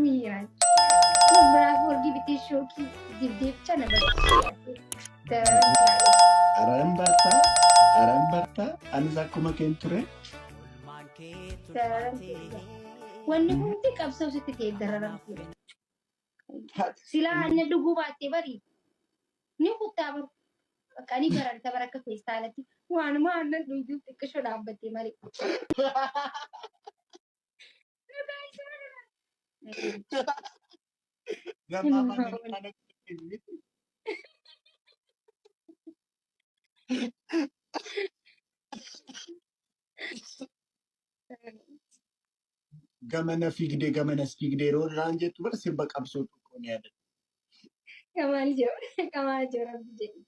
Miiraan. Biraa hoolgii bitee shookii dibdee bicha na barbaade. Daraan taa'e. Aran bartaa, aran bartaa, anis akkuma keen ture. Daraan taa'e. Wanni hundi qabsoo sitti ta'e daraan taa'e. Silaa anna dhuguu baattee bari. Ni kuttaa baru. Bakka ni bararta bara akka feestaalatti. Waanuma aannan dhuguu xiqqishoo dhaabbattee malee. Gamana fiigdee gamanas fiigdee yeroo irraan jettu bara sirba qabsoo tokko ni yaadadha. Kamaal jiru. Kamaal jiru rabbi jedhi.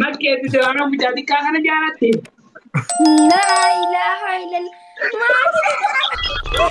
Makkeetti diraanaa mucaa xiqqaa kana jaalatte. Laa ilaaha illal. Maatii.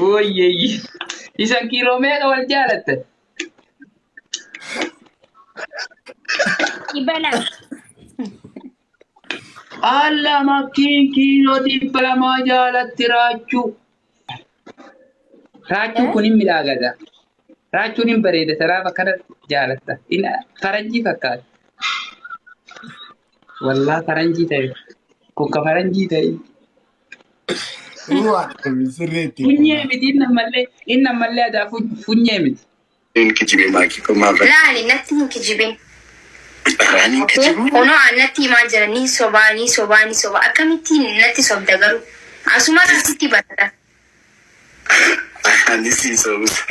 Woyyeeyyi. Isan kiiloo meeqa wal jaalattan? Dhibba lama. Alla makkiin kiiloo dhibba lamaa jaalatti raachuu. Raachuun kun hin midhaagata. Raachuun hin bareeda saraaf akkana jaalatta. Hin faranjii fakkaata. Wallaa faranjii ta'e. Kun ka faranjii ta'e. Sirreetti. Funyee miti inni ammallee inni ammallee adaa fu- funyee miti. Hin kijibee maakii koo maaf Laali natti hin kijibin. irraan hin kijibuu? Kunoo an natti himaa jira ni sobaa ni sobaa ni sobaa akkamittiin natti sobda garuu asumarraa sitti barata Ani sii sobusa.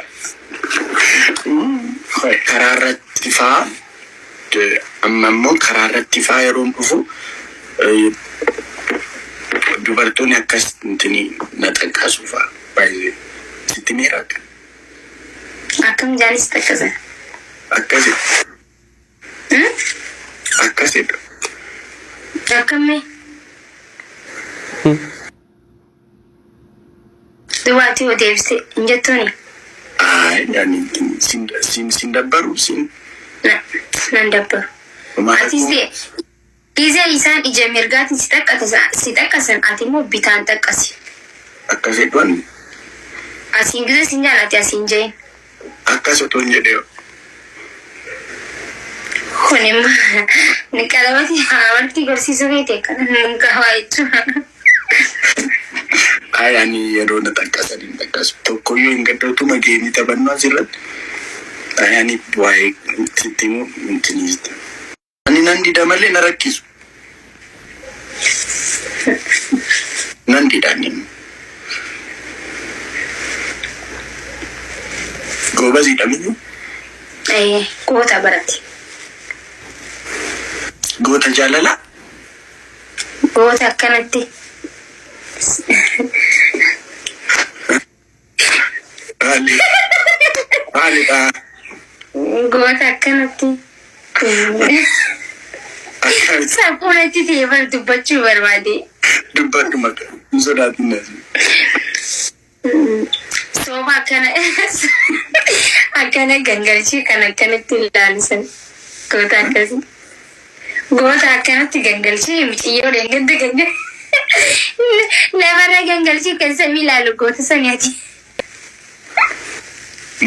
Karaa irratti faa amma immoo karaa irratti faa yeroon dhufu dubartoonni akkas intini na xaqqasu faa baay'ee sitti miira akka Akkam jaanis xaqqasan. akkasi akkasidha. Akkammee. Duwwaatti hoo deebiste hin jettuuni? Ayi ani sin sin dabbaru sin. Na nan dabbaru. Homaa Atis rakkoo. ta'e gize isaan ija mirgaatiin si xaqqatasa si xaqqasan ati immoo bitaan xaqqasi. Akkas jedhu anni. Asiin gize sin jaala ati asiin ja'iin. Akkas otoon jedhee hoo. Kunimma ni qalamati amartii barsiisuu keeti akkana nun kaawaa jechuun. Ayi ani yeroo na xaqqasan hin xaqqasu tokkoyyuu hin gadda utuma geemii taphannuu asirratti ayi ani waa'ee sitti himuu hin jini. Ani nan dida malee na rakkisu. Nan dida ani. Goobazidha miyyuu. Eh, Goota barate. Goota jaalalaa. Goota akkanatti. Maali? Maalidha? Goota akkanatti. Akkamitti Saphuu natti ta'e bar dubbachuu barbaade. dubbadhu maqaa? Hin sodaatin na jedhu. Sooba akkana akkana gangalchee kan akkanatti ilaalisan goota akkasii. Goota akkanatti gangalchee miciyyoo leengadda ganna lafarra gangalchuu kan samii ilaalu goota sani ati.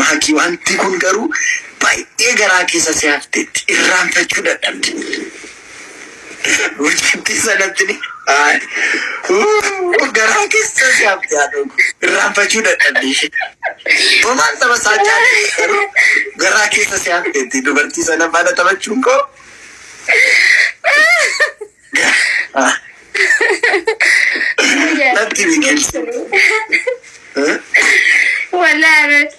Maakii wanti kun garuu baay'ee garaa keessa si hafteetti irraanfachuu dadhabde. Mucattii sanatti ni. Ay. Wuu, Garaa keessa jaabdi haadhoo koo. Irraanfachuu dadhabbii ishee. Homaan saba isaa caalaa garuu garaa keessa si hafteetti dubartii sana faana taphachuun koo. Ah. Natti biqilchi. Eh? Walaa irratti.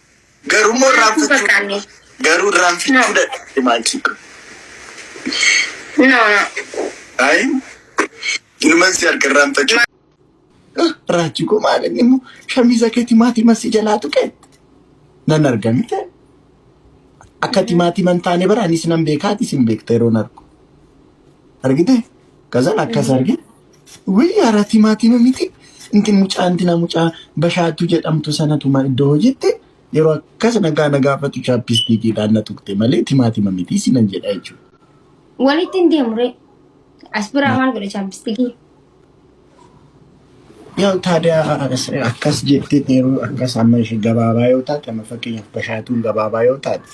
Garuu immoo irraanfachuu garuu irraanfachuu dadhabde maatii. No, no. Ayi inuman si harka irraanfachuu. Raachi koo maal inni immoo shamiza kee timaatiman si jalaa tuqe nan arga mite akka timaatiman taane bara anis nan beekaa atis hin beekta yeroon argu argite kazan akkas argite. Wii ara timaatimu miti intin mucaa intina mucaa bashaatu jedhamtu sanatuma iddoo hojiitti yeroo akkas nagaa na gaafatu chaappistiikiidhaan na tuqxe malee timaatima miti sinan jedha jechuudha. Walitti hin deemu ree. As biraa maal godhe chaappistikii? Yaa taadee akkas jettee yeroo akkas amma ishee gabaabaa yoo taate amma fakkeenyaaf bashaatuun gabaabaa yoo taate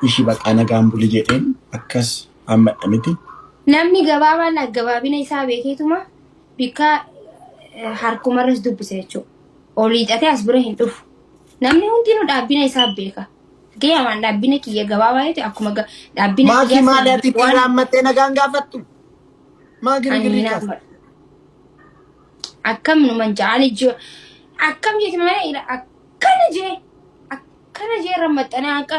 ishii baqaa nagaan buli jedheen akkas Amma dha miti. Namni gabaabaan aggabaabina isaa beekeetuma bikka eh, harkumarras dubbisa jechuudha. Ol hiixatee as bira hin dhufu. Namni hundinuu dhaabbina isaa beeka. Fakkeenyaaf dhaabbina kiyya gabaabaa yoo ta'e akkuma ga- dhaabbina Maakii kiyyaa maali ati ittiin waan raammattee nagaan gaafattu? Maa ani girgirrii hin kaasa? hammadu. Akkam numan ja'ani jiru. Akkam jeeti mana ila akkana jee akkana jee rammaxxanaa akka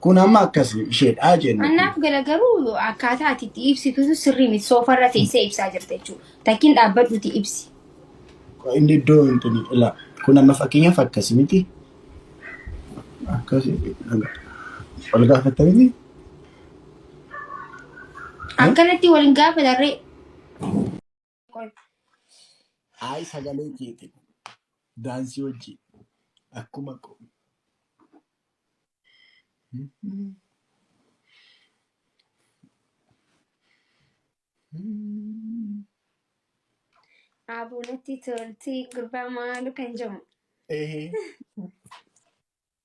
Kun amma akkas isheedhaa jennu. Annaaf gala garuu akkaataa ati itti ibsitu sirrii miti soofarra teessee ibsaa jirta jechuudha. Takkiin dhaabbadhuuti ibsi. Inni iddoo wanti ni ila. Kun amma fakkeenyaaf akkas miti. Akkas wal gaafatta miti. Akkanatti wal hin gaafatarree. Qoy. Ayi sagalee keeti. Daansii hojii. Akkuma ko. Aaboo natti tolti gurbaa maalu kan jedhamu. Ehe.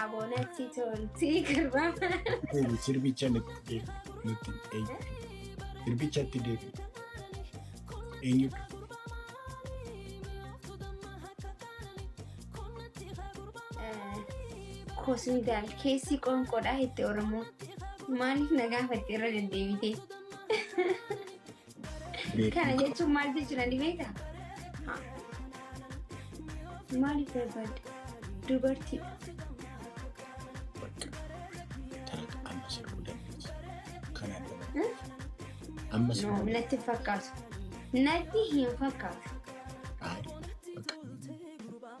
Abonatti tolti garba. Deebi sirbicha nutti deebi. Nutti deebi. Sirbichatti deebi. Eenyutu? Kosundaal keessi qoonqoodhaa itti Oromoo. Maaliif na gaafatte irra deddeebitee? Beeku. Kana jechuun maal jechuudha ni beektaa? Haa. Maaliif barbaadda? Dubartiidha. Bakka. Taata amma sirbu dandeessi. Kanaan dura. Hmm? Amma No, sirbu. natti hin fakkaatu. Natti hin fakkaatu. Ayi. Bakka.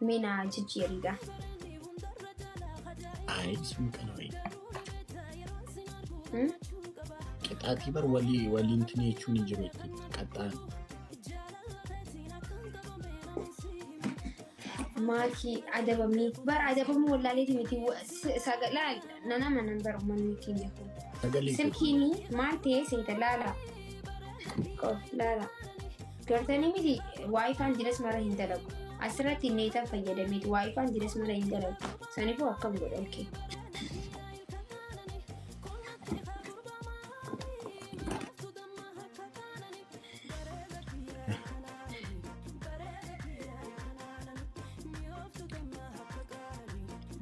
Mee na jijjiiriigaa. Ayi sun kana wayi. Hmm? Qixaatii bar walii waliin tini jechuun hin jiru itti qaxxaan. Maakii adabamee bar adabamuu wallaaleeti miti sagalee nana manan bar uummanni keenya kun. Sagalee. Silkiini maal ta'ee seeta laala. Qof laala. Gartanii miti waayifaan jiras mara hin dalagu. Asirratti neetan fayyadameeti waayifaan jiras mara hin dalagu. Sanifuu akkam godha okkee.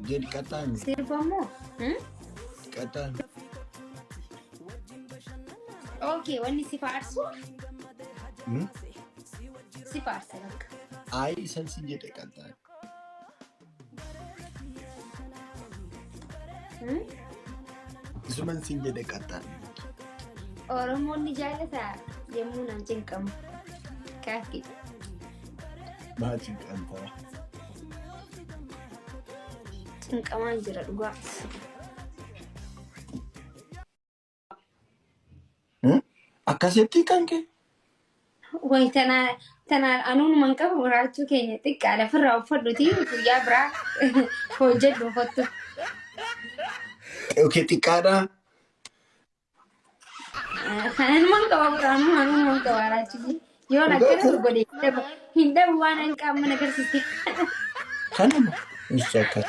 Jed qataan Sirba moo? Hmm? qataan Okay, wanni si faarsu Hmm? si faarsa bakka. Ayi isan sin jedhe qaltaa. Hmm? Isuman sin jedhe qaltaan. Oromoon ni jaallata yommuu naan cinqamu. Kaafi. Maatiin qaltaa. Cinqamaan jira dhugaa. Akkasitti kan kee. Wayi tanaa tanaa anuun man qabu muraachuu keenya xiqqaadha firraa uffadhuti guyyaa biraa hojjedhu kottu. Okay xiqqaadha. Kanan man qaba biraan anuun man qaba raachuu yoo akkana godhe hin dhabu waan an qaama na garsiise. Kanuma. Ishee akkas.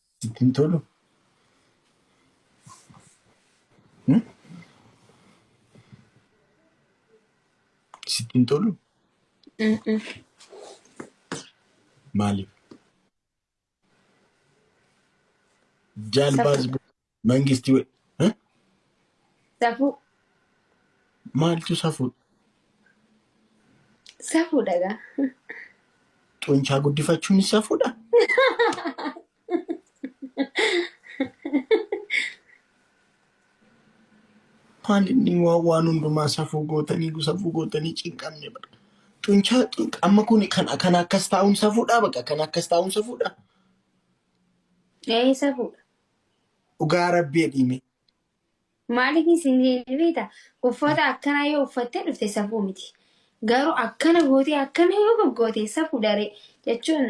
Sitti hin tolu? Hmm? Sitti hin tolu? Mm-mm. Maaliif? Jaalbaas Safuu. Mangisti we- eh? Safuu. maaltu safuu Safuudha gaa. xunchaa guddifachuun safuudha. Maal inni waa- waan hundumaa safuu gootanii safuu gootanii cinqamne bara. Xunchaa xun- amma kun kan kan akkas taa'uun safuudha baqa kan akkas taa'uun safuudha. Ee safuudha. Dhugaa rabbii jedhii mee. Maaliif isin hin beekta uffata akkanaa yoo uffattee dhufte safuu miti. Garuu akkana gootee akkana yoo goggoote safuudha ree jechuun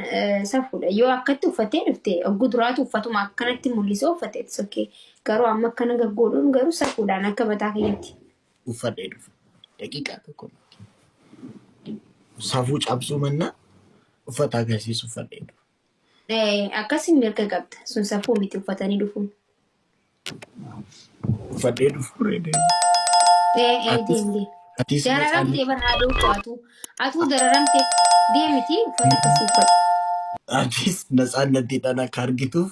safuudha. Yoo akkatti uffattee dhufte ogguu duraatu uffatuma akkanatti mul'isee uffatte it's okay. Garuu amma akkana gaggoodhuun garuu safuudhaan akka mataa kiyyaatti. Uffadhee dhufa. Daqiiqaa tokko. Safuu cabsuu mannaa uffata agarsiisu uffadhee dhufa. Akkasi mirga qabda. Sun safuu miti uffatanii dhufuun. Uffadhee dhufuu reedee. Deem deem. Atis Dararamtee bar haadhoo koo atuu. Atuu dararamtee deemiti uffata akkasii uffadhu. Atis natsaannattiidhaan akka argituuf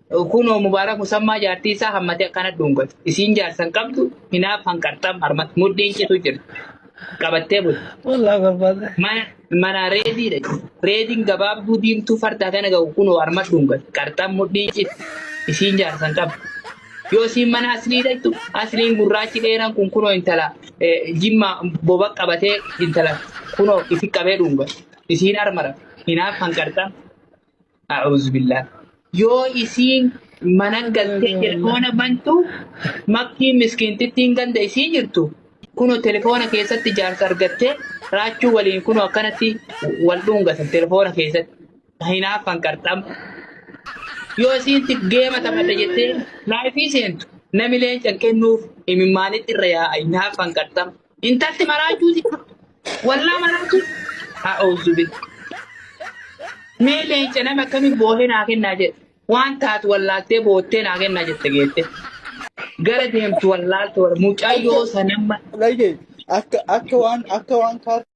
Kunoo Mubaarak Musammaa jaartii isaa hammatee akkana dhuungate. Isiin jaarsa hin qabdu, hinaaf hanqarxam harmatti mudhiin citu jirti. Qabattee bulti. Wallah barbaada. Mana mana reediidha. Reediin gabaabduu diimtuu farda kana ga'u kunoo harma dhuungate. Qarxam mudhiin citu. Isiin jaarsa hin qabdu. Yoo isiin mana asliidha jettu, asliin gurraachi dheeraan kun kunoo intala eh, jimma boba qabatee intala kunoo isi qabee dhuungate. Isiin harma rafe. Hinaaf hanqarxam. A'uuzubillah. Yoo isiin manan galtee telefoona bantu makkii miskiintittiin ganda isii jirtu kunoo telefoona keessatti jaarsa argattee raachuu waliin kunoo akkanatti wal dhungatan telefoona keessatti hinaaffan qarxam. Yoo isiinti geema taphadha jettee laayifii seentu nami leencan kennuuf imimmaanitti irra yaa'a hinaaffan qarxam. Intalti maraachuuti. Wallaa maraachuun. A'uuzu bil. Mee leenca nama akkamiin boohee naa kennaa jedhe. Waan taatu wallaaltee boottee naa kennaa jette geette. Gara deemtu wallaaltu wal mucayyoo sanamma. Lage akka akka waan akka waan kaartaa.